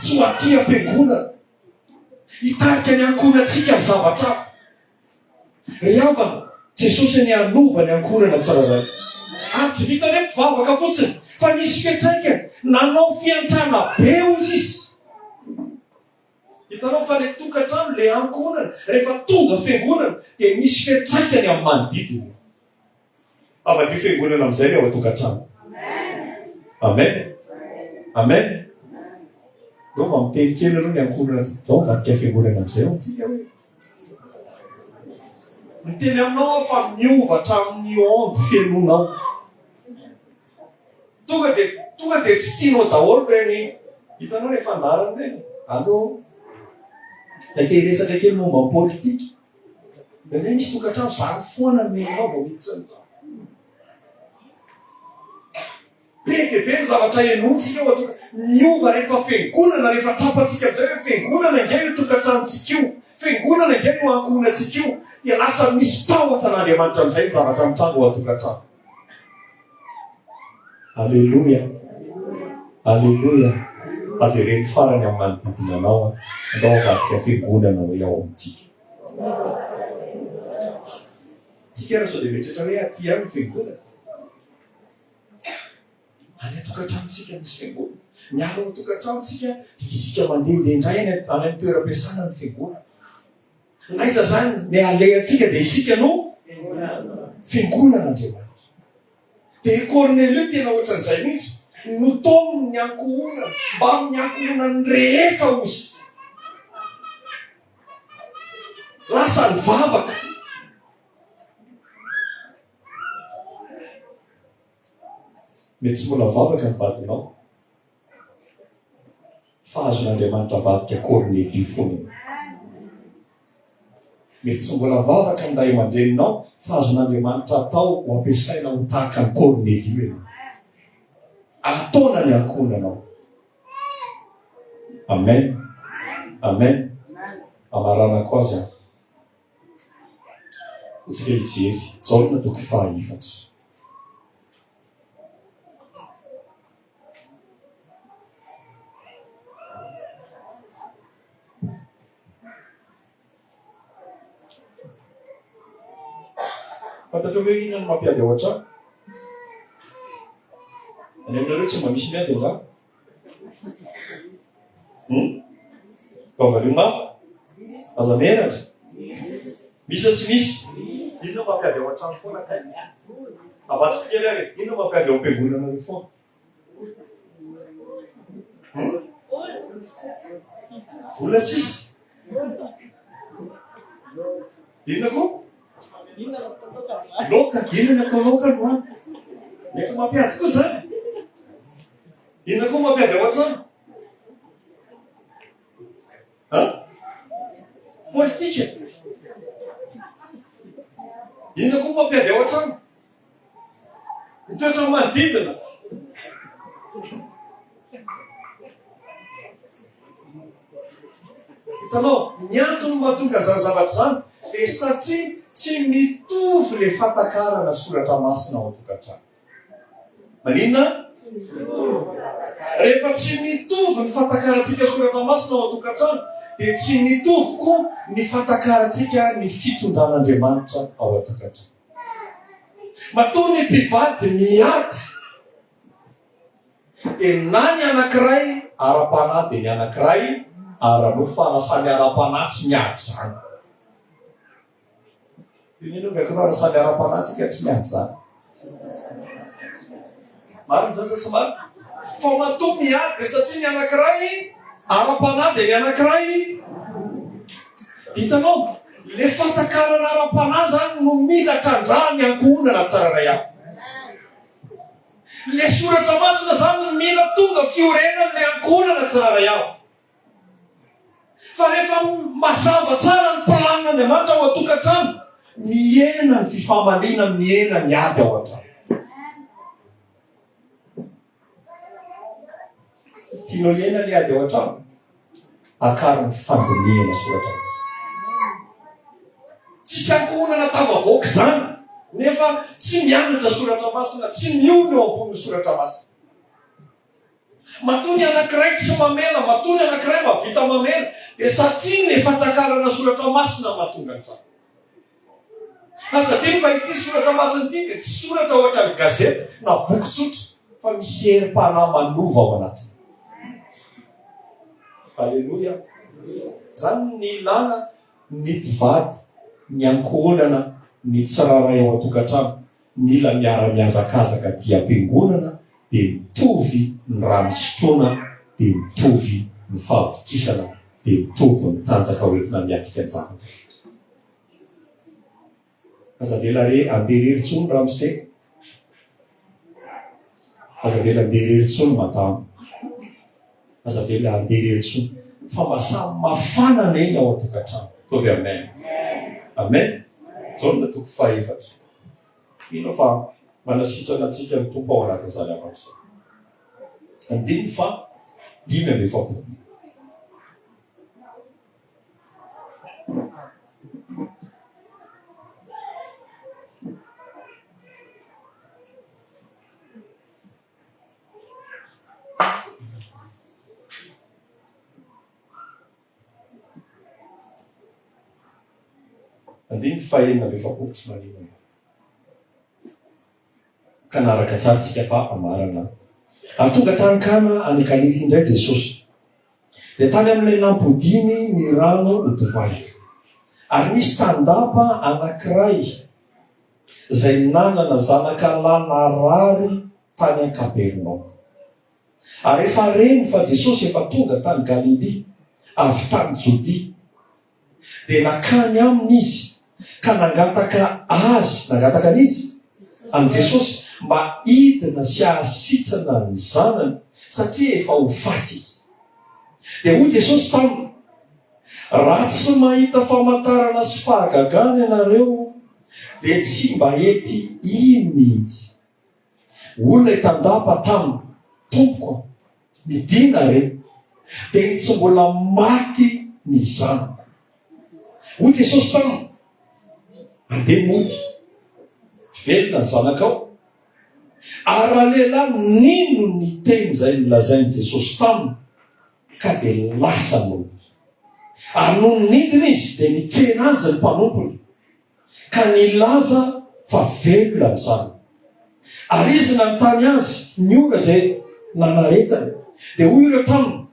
tsy ho aty am-piangonana, hitarika ny ankohonantsika amin'ny zavatra hafa. Ry havana, Jesosy anie hanova ny ankorana tsirairay. Ary tsy vitan'ny hoe mpivavaka fotsiny, fa nisy fiantraikany. Nanao fiantrana be hoy izy. Hitanao fa ilay tokantrano, ilay ankohonana, rehefa tonga fiangonana, dia misy fiantraikany amin'ny manodidina. Havadio fiangonana amin'izay ny ao an-tokantrano. Amen. Amen. Ndao mba miteny kely ireo ny ankohonana tsy ndao vadika fiangonana amin'izay ao antsika hoe. Miteny aminao aho fa miova hatramin'ny onde fenonao. Tonga dia tonga dia tsy tianao daholo ireny hitanao ilay fandaharana ireny. Allo. Takei-resaka kely momba ny politika. Indraindray misy tokantrano zary foana ny nenao vao miditra ny trano. Be dia be ny zavatra henointsika eo an-toka. Miova rehefa fiangonana, rehefa tsapantsika amin'izay hoe fiangonana ange io tokantranontsika io, fiangonana ange no ankohonantsika io, dia lasa misy tahotra an'Andriamanitra amin'izay ny zavatra mitranga ao an-tokantrano. Aleloia. Aleloia. Avereno farany amin'ny manodidina anao an. Andao avadika fiangonana hoe ao amintsika. Tsika ary sao dia mieritreritra hoe aty ihany ny fiangonana. Any an-tokantranontsika misy fiangonana. Miala ao an-tokantranontsika dia isika mandehandeha indray any amin'ny toeram-piasana ny fiangonana. Naiza zany ny alehantsika dia isika no fiangonana Andriamanitra. Dia i Kornelio tena ohatran'izay mihitsy, notaominy ny ankohonany, mbamin'ny ankohonany rehetra ozy. Lasa ny vavaka. Mety tsy mbola vavaka ny vadinao. Fa azon'Andriamanitra avadika Kornelio foana. Mety tsy mbola mivavaka ny ray aman-dreninao, fa azon'Andriamanitra atao ho ampiasaina ho tahaka ny Kornelio ianao. Ataona ny ankohonanao. Amen. Amen. Amaranako azy aho. Hotsika hijery. Jaona toko faha efatra. Fantatrao ve hoe inona no mampiady ao an-trano? Any aminareo tsy mba misy miady angaha? Hmm? Vavalio mafy? Aza menatra? Misy tsy misy? Inona mampiady ao an-trano foana kay? Avatsiko kely ary, inona mampiady ao am-piangonana eo foana? Hmm? Vola tsisy? Inona koa? Loka, inona atao loka no any? Mety mampiady koa zany? Inona koa mampiady ao an-trano? Ha? Politika. Inona koa mampiady ao an-trano? Ny toetra manodidina. Hitanao, ny antony mahatonga izany zavatra izany dia satria tsy mitovy ilay fatakarana soratra masina ao an-tokantrano. Maninona? Rehefa tsy mitovy ny fatakarantsika sy Soratra Masina ao an-tokantrano, dia tsy mitovy koa ny fatakarantsika ny fitondran'Andriamanitra ao an-tokantrano. Matoa ny mpivady miady, dia na ny anankiray ara-panahy dia ny anankiray ara-nofo, fa na samy ara-panahy tsy miady izany. Iny aloha ilay kiraro samy ara-panahy tsika tsy miady zany. Marina zany sa tsy marina? Fa matoa miady dia satria ny anankiray ara-panahy dia ny anankiray hitanao le fatakarana ara-panahy zany no mila trandra ny ankohonana tsara ray aby. Le soratra masina zany mila tonga fiorenan'le ankohonana tsara ray aby. Fa rehefa mazava tsara ny planin'Andriamanitra ao an-tokantrano, mihena ny fifamaliana, mihena ny ady ao an-trano. Tianao hihena ny ady ao an-trano? Akaro ny fandinihana soratra masina. Tsisy ankohonana tafavoaka izany nefa tsy mianatra soratra masina, tsy miorina eo ambonin'ny soratra masina. Matoa ny anankiray tsy mamela, matoa ny anankiray mahavita mamela, dia satria ny fatakarana soratra masina no mahatonga an'izany. Aza adino fa ity soratra masina ity dia tsy soratra ohatran'ny gazety na boky tsotra, fa misy herim-panahy manova ao anatiny. Aleloia! Izany ny ilana ny mpivady, ny ankohonana, ny tsirairay ao an-tokantrano. Mila miara-mihazakazaka dia am-piangonana dia mitovy ny rano sotroina dia mitovy ny fahavokisana dia mitovy ny tanjaka hoentina miatrika ny zava-drehetra. Aza avela re andeha irery intsony ramose. Aza avela andeha irery intsony madama. Aza avela andeha irery intsony. Fa mba samy mafana anie ny ao an-tokantrano. Ataovy amen. Amen. Jaona toko fahaefatra. Mino aho fa manasitrana antsika ny Tompo ao anatin'izany hafatra izany. Andininy faha dimy amby efapolo. Andininy fahenina amby efapolo tsy maninona. Ka naraka tsara tsika fa amarana. Ary tonga tany Kana any Galilia indray Jesosy. Dia tany amin'ilay nampodiany ny rano ho divay. Ary nisy tandapa anankiray izay nanana zanaka lahy narary tany an-Kapernaomy. Ary rehefa reny fa Jesosy efa tonga tany Galilia avy tany Jodia, dia nakany aminy izy ka nangataka Azy, nangataka an'iza? An'i Jesosy, mba hidina sy hahasitrana ny zanany, satria efa ho faty izy. Dia hoy Jesosy taminy, Raha tsy mahita famantarana sy fahagagana ianareo, dia tsy mba hety hino mihitsy. Olona hitandapa taminy, Tompoko a, midina re, dia ny tsy mbola maty ny zanako. Hoy Jesosy taminy, Andeha mody, velona ny zanakao. Ary ralehilahy nino ny teny izay nolazain'i Jesosy taminy, ka dia lasa nody. Ary nony nidina izy, dia nitsena azy ny mpanompony. ka nilaza fa velona izany. Ary izy nanontany azy ny ora izay nanaretany. Dia hoy ireo taminy,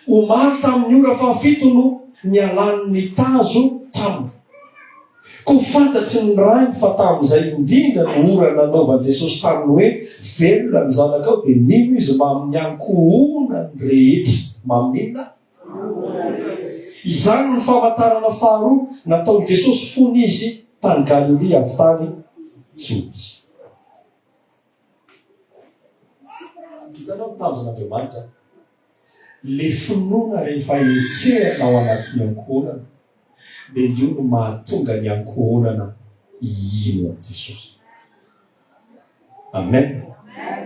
Omaly tamin'ny ora fahafito no nialany ny tazo taminy. Koa fantatry ny rainy fa tamin'izay indrindra no ora nanaovan'i Jesosy taminy hoe, Velona ny zanakao, dia nino izy mamin'ny ankohonany rehetra. Mamin'inona? Izany no famantarana faharoa nataon'i Jesosy fony Izy tany Galilia avy tany Jodia. Hitanao ny tanjon'Andriamanitra? Le finoana rehefa hetsehana ao anatin'ny ankohonana, dia io no mahatonga ny ankohonana hino an'i Jesosy. Amen.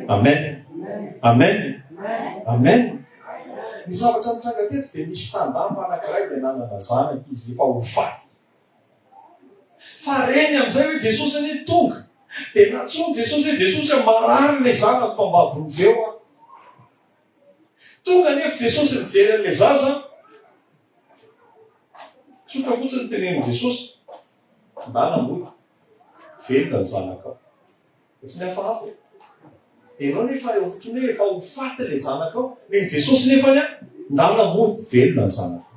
Amen. Amen. Amen. Ny zavatra nitranga teto dia nisy tandapa anankiray dia nanana zanaka izy efa ho faty. Fa reny amin'izay hoe Jesosy anie tonga. Dia natsoiny Jesosy hoe Jesosy a marary ilay zanako fa mba vonjeo aho. Tonga anefa Jesosy nijery an'ilay zaza. Tsotra fotsiny tenenin'i Jesosy. Ndana mbola. Velona ny zanakao. Ohatran'ny hafahafa e. Ianao nefa eo fotsiny hoe efa ho faty ilay zanakao. Nen'i Jesosy nefa ny ahy, ndana mody, velona ny zanakao.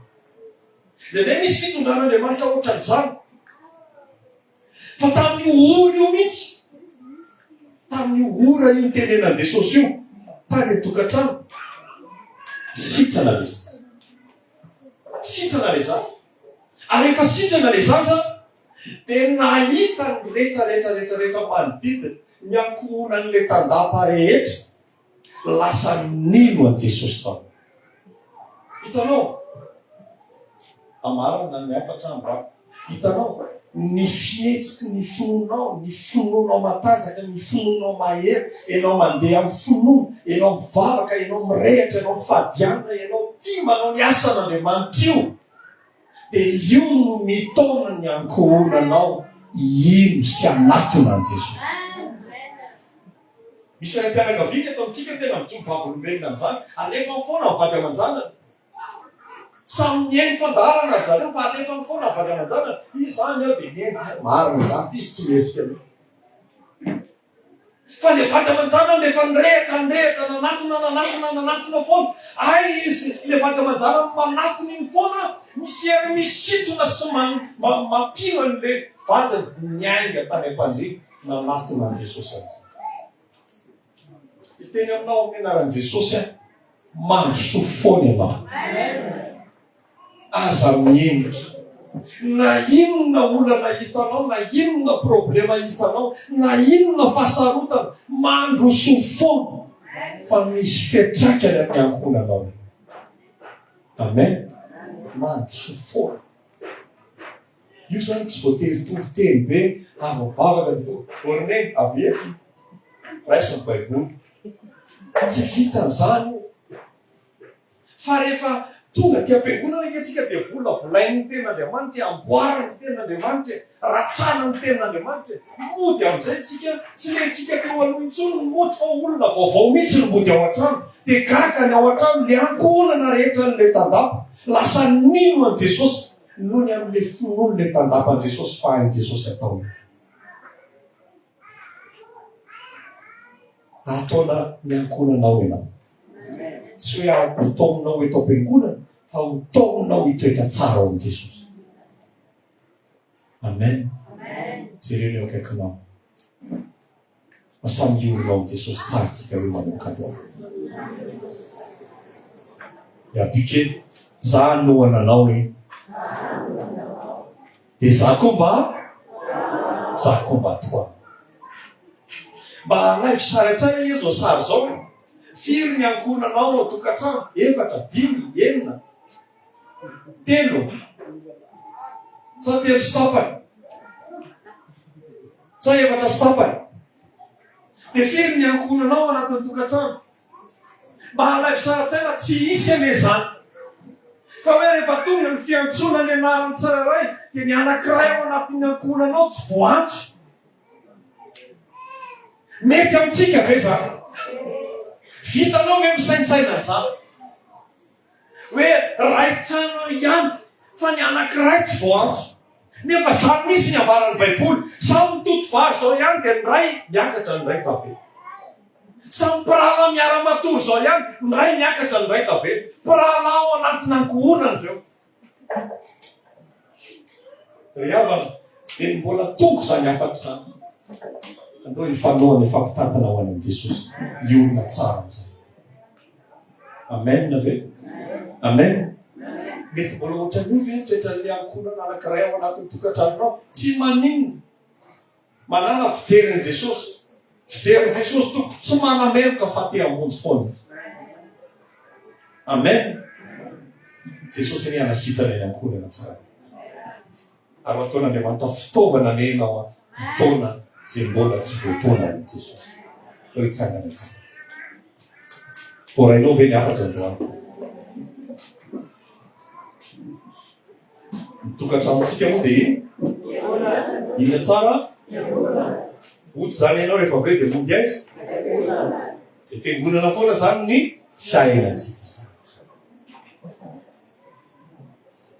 Dia andeha misy fitondran'Andriamanitra ohatran'izany. Fa tamin'io ora io mihitsy, tamin'io ora io nitenenan'i Jesosy io, tany an-tokantrano, sitrana ilay zaza. Sitrana ilay zaza. Ary efa sitrana ilay zaza, dia nahita ny rehetra rehetra rehetra rehetra manodidina, ny ankohonan'ny letandapa rehetra, lasa nino an'i Jesosy tao. Hitanao? Amarana ny hafatra ambako. Hitanao? ny fihetsiky ny finoanao, ny finoanao matanjaka, ny finoanao mahery, ianao mandeha amin'ny finoana, ianao mivavaka, ianao mirehatra, ianao mifadianina, ianao tia manao ny asan'Andriamanitra io. Dia io no mitaona ny ankohonanao hino sy hanatona an'i Jesosy. Misy raim-pianakaviana eto amintsika tena mijoro vavolombelona amin'izany, alefany foana ny vady aman-janany. Samy mihaino fandaharana ry zareo fa alefany foana ny vady aman-janany. Izany aho dia mihaino, marina izany, f'izy tsy mihetsika loatra. Fa le vady aman-janany rehefa nirehatra, nirehatra, nanatona, nanatona, nanatona foana. Hay izy, le vady aman-janany manatona iny foana, misy hery misintona sy mampino an'le vadiny niainga tany am-pandriana, nanatona an'i Jesosy amin'izay. Hiteny aminao amin'ny anaran'i Jesosy aho, mandrosoa foana ianao. Aza mihenika. Na inona olana hitanao, na inona problema hitanao, na inona fahasarotana, mandroso foana fa misy fiantraikany amin'ny ankohonanao io. Amen. Mandroso foana. Io zany tsy voatery tory teny be, avo vavaka ny to. Orne, avy eto. Raiso ny Baiboly. Tsy vitan'izany io. Fa rehefa tonga aty am-piangonana ange tsika dia volavolainy ny tenin'Andriamanitra e, amboariny ny tenin'Andriamanitra e, ratsana ny tenin'Andriamanitra e. Mody amin'izay tsika, tsy letsika teo aloha intsony ny mody fa olona vaovao mihitsy no mody ao an-trano. Dia gaga ny ao an-trano, le ankohonana rehetra an'le tandapa. Lasa nino an'i Jesosy noho ny amin'le finoan'le tandapa an'i Jesosy fa hain'i Jesosy atao io. Ataona ny ankohonanao ianao. Tsy hoe ampitaominao eto am-piangonana fa ho taominao hitoetra tsara ao amin'i Jesosy. Amen. Jereo ny eo akaikinao. Fa samy hiorinao amin'i Jesosy tsara tsika hoe manokatra. Yabike, za anohana anao e. Dia za koa mba za koa mba toa. Mba alaivo sary an-tsaina anie zao sary zao. Firy ny ankohonanao ao tokantrano? Efatra, dimy, enina, telo. Sa telo sy tapany? Sa efatra sy tapany? Dia firy ny ankohonanao ao anatin'ny tokantrano? Mba halaivo sara tsaina tsy hisy anie izany. Fa hoe rehefa tonga ny fiantsoana ny anaran'ny tsirairay dia ny anankiray ao anatin'ny ankohonanao tsy voantso. Mety amintsika ve izany? Vitanao ve misaintsaina an'izany? Hoe iray trano eo ihany fa ny anankiray tsy voaantso. Nefa zany mihintsy ny ambaran'ny baiboly. Sao mitoto vary zao ihany dia ny iray miakatra ny iray tavela. Sao mpirahalahy miara-matory zao ihany, ny iray miakatra ny iray tavela. Mpirahalahy ao anatin'ankohonana ireo. Ry havana, dia mbola toko izany hafatra izany. Andao hifanohana, hifampitantana ho any amin'i Jesosy, hiorina tsara amin'izay. Amen ve? Amen. Mety mbola ohatran'io ve ny toetran'ny ankohonana anankiray ao anatin'ny tokantranonao? Tsy maninona. Manana fijery an'i Jesosy. Fijerin'i Jesosy Tompo tsy manameloka fa te hamonjy foana. Amen. Jesosy anie hanasitrana ny ankohonana tsara. Ary ataon'Andriamanitra fitaovana nenao taona izay mbola tsy voataona amin'i Jesosy. Fa hitsangana tsara. Voarainao ve ny hafatra androany? Ny tokantranontsika moa dia inona tsara? Mody izany ianao rehefa avy eo dia mody aiza? Dia fiangonana foana izany ny fiainantsika izany.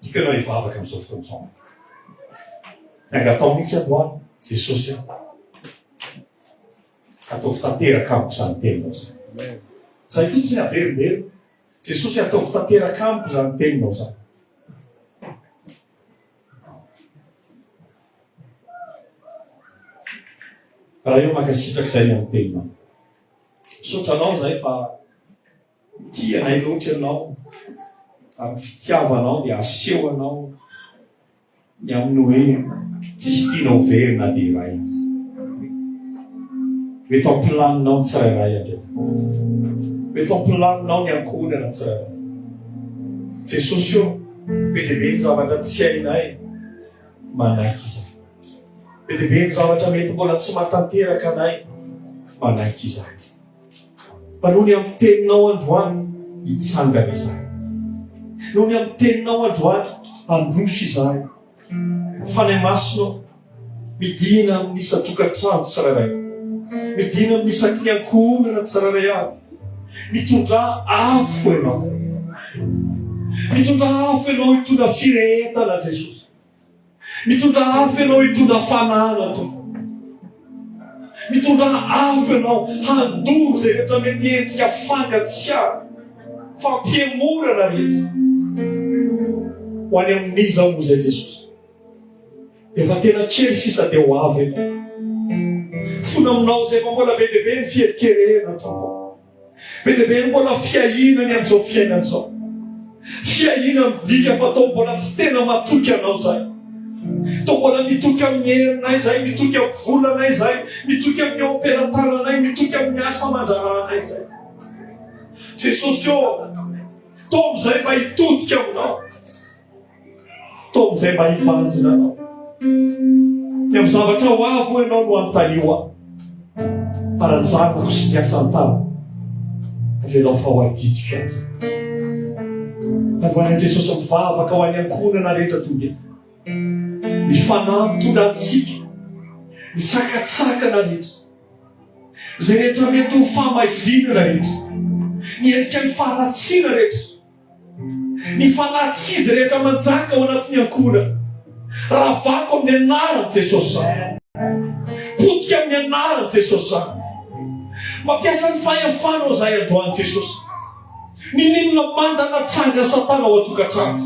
Tiako ianao hivavaka amin'izao fotoana izao. Nangatao mihitsy androany Jesosy aho. Ataovy tanteraka amiko izany teninao izany. Izay fotsiny averimberina. Jesosy ataovy tanteraka amiko izany teninao izany. Raha eo mankasitraka izay ny anteninao. Misaotra anao izay fa tia anay loatra ianao, amin'ny fitiavanao dia aseho anao ny amin'ny hoe tsisy tiana ho very na dia iray aza. Mety ao am-pilaninao ny tsirairay andriamanitra. Mety ao am-pilaninao ny ankohonana tsirairay. Jesosy ô, be dia be ny zavatra tsy hainay manaiky izahay. Be dia be ny zavatra mety mbola tsy mahatanteraka anay manaiky izahay. Fa noho ny amin'ny teninao androany hitsangana izahay. Noho ny amin'ny teninao androany handroso izahay. Fanahy masina, midina amin'ny isan-tokantrano tsirairay. Midina amin'ny isaky ny ankohonana tsirairay avy. Mitondra afo ianao. Mitondra afo ianao hitondra firehetana Jesosy. Mitondra afo ianao hitondra fanahana tompoko. Mitondra afo ianao handoro izay rehetra mety endrika fangatsiahana, fampihemorana rehetra. Ho any amin'iza moa izay Jesosy? Efa tena kely sisa dia ho avy ianao. Fona aminao izay fa mbola be dia be ny fiherikerena tompoko. Be dia be ny mbola fiahiana ny amin'izao fiainana izao. Fiahiana midika fa toa mbola tsy tena matoky anao izay. Toa mbola mitoky amin'ny herinay izay, mitoky amin'ny volanay izay, mitoky amin'ny eo am-pelatananay, mitoky amin'ny asa aman-draharahanay izay. Jesosy ô, toa amin'izay mba hitodika aminao. Taomy zay mba hibanjina anao. Dia amin'ny zavatra ho avo ianao no antalio aho. Para ny zanako sy ny asan-tany. Avelao fa ho adidiko aza. Androany Jesosy mivavaka ho an'ny ankohonana rehetra toy eto. Ny fanahy mitondra antsika. Ny sakatsakana rehetra. Izay rehetra mety ho famaizinana rehetra. Ny endrika ny faharatsiana rehetra. Ny fanahints'izy rehetra manjaka ao anatin'ny ankohonana. Ravako amin'ny anaran'i Jesosy izany. Potika amin'ny anaran'i Jesosy izany. Mampiasa ny fahefanao izahay androany Jesosy. Nininona manda natsanga Satana ao an-tokantrano.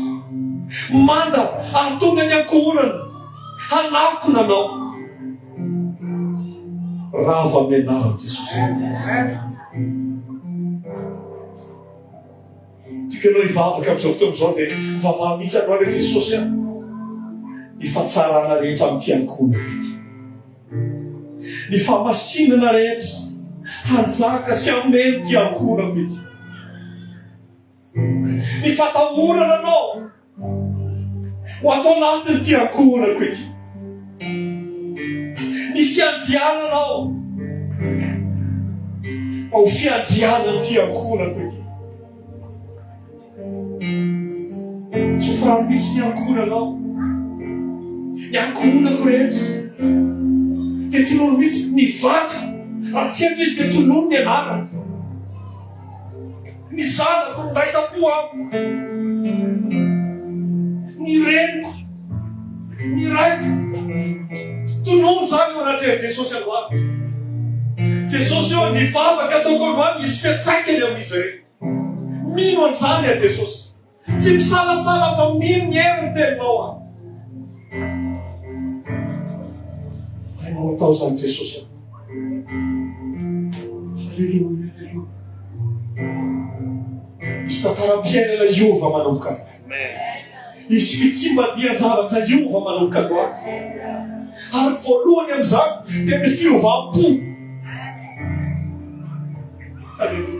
Manda hahatonga ny ankohonana hanakona anao. Rava amin'ny anaran'i Jesosy. Tikanao hivavaka amin'izao fotoana izao dia mivavaha mihitsy aloha re Jesosy a. Ny fahatsarana rehetra amin'ity ankohonana ity. Ny fahamasinana rehetra hanjaka sy hameno ity ankohonako ity. Ny fatahorana anao Ho ato anatin'ity ankohonako ity. Ny fiandriananao. Ao fiandrianan'ity ankohonako ity. Tsy ho farany mihitsy ny ankohonanao. Ny ankohonako rehetra. Dia tolono mihitsy ny vadiko. Raha tsy eto izy dia tolono ny anarany. Ny zanako miray tampo amiko. Ny reniko, ny raiko. Tonony izany eo anatrehan'i Jesosy androany. Jesosy eo, ny vavaka ataoko androany, hisy fiantraikany amin'izy ireny. Mino an'izany aho Jesosy. Tsy misalasala fa mino ny hery ny teninao an. Tena ho atao izany Jesosy an. Aleloia, aleloia. Misy tantaram-piainana hiova manomboka androany. Misy fitsimban-dian-javatra hiova manomboka androany. Ary voalohany amin'izany dia ny fiovam-po. Aleloia.